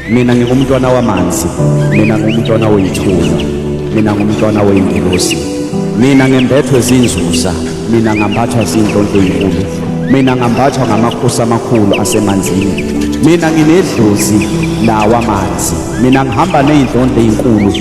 mina ngingumntwana wamanzi mina ngumntwana oyithuna mina ngumntwana weyingelosi mina ngembethwe zinzuza mina ngambathwa zinhlonto enkulu mina ngambathwa ngamakhosi amakhulu asemanzini mina nginedlozi lawa amanzi mina ngihamba neyinhlonto ezinkulu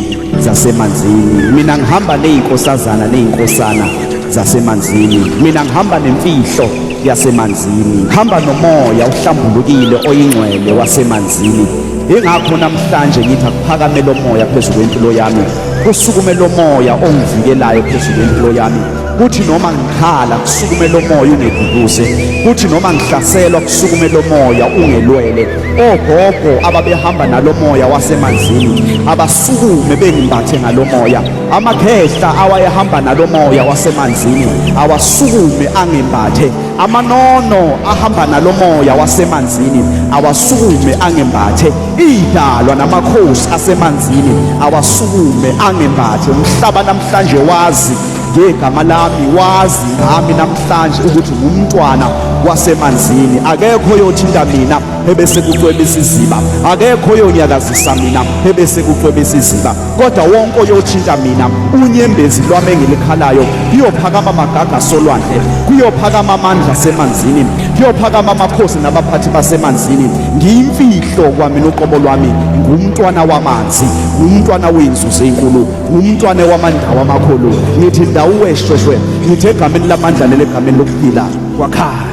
zasemanzini mina ngihamba nezinkosazana nezinkosana zasemanzini mina ngihamba nemfihlo yasemanzini hamba nomoya uhlambulukile oyingcwele wasemanzini ingakho namhlanje ngithi akuphakame lo moya phezu kwempilo yami kusukume lo moya ongivikelayo phezu kwempilo yami kuthi noma ngikhala kusukume lo moya ungeduduze kuthi noma ngihlaselwa kusukume lo moya ungelwele ogogo ababehamba nalo moya wasemanzini abasukume bengimbathe ngalo moya Amakhehla awayehamba nalo moya wasemanzini awasukume angembathe. Amanono ahamba nalo moya wasemanzini awasukume angembathe. Idalwa namakhosi asemanzini awasukume angembathe. Umhlaba namhlanje wazi ngegama lami, wazi ngami namhlanje ukuthi ngumntwana wasemanzini akekho yothinta mina ebese kucwebisa iziba akekho yonyakazisa mina ebese kucwebisa iziba kodwa wonke oyothinta mina unyembezi lwami engilikhalayo kuyophakama amagaga solwandle kuyophakama amandla asemanzini kuyophakama amakhosi nabaphathi basemanzini ngiyimfihlo kwami noqobo lwami ngumntwana wamanzi ngumntwana wey'nzuzo ey'nkulu ngumntwana wamandawo amakhulu ngithi ndawuweshweshwe ngithi egameni lamandla leli egameni lokuphila kwakhaya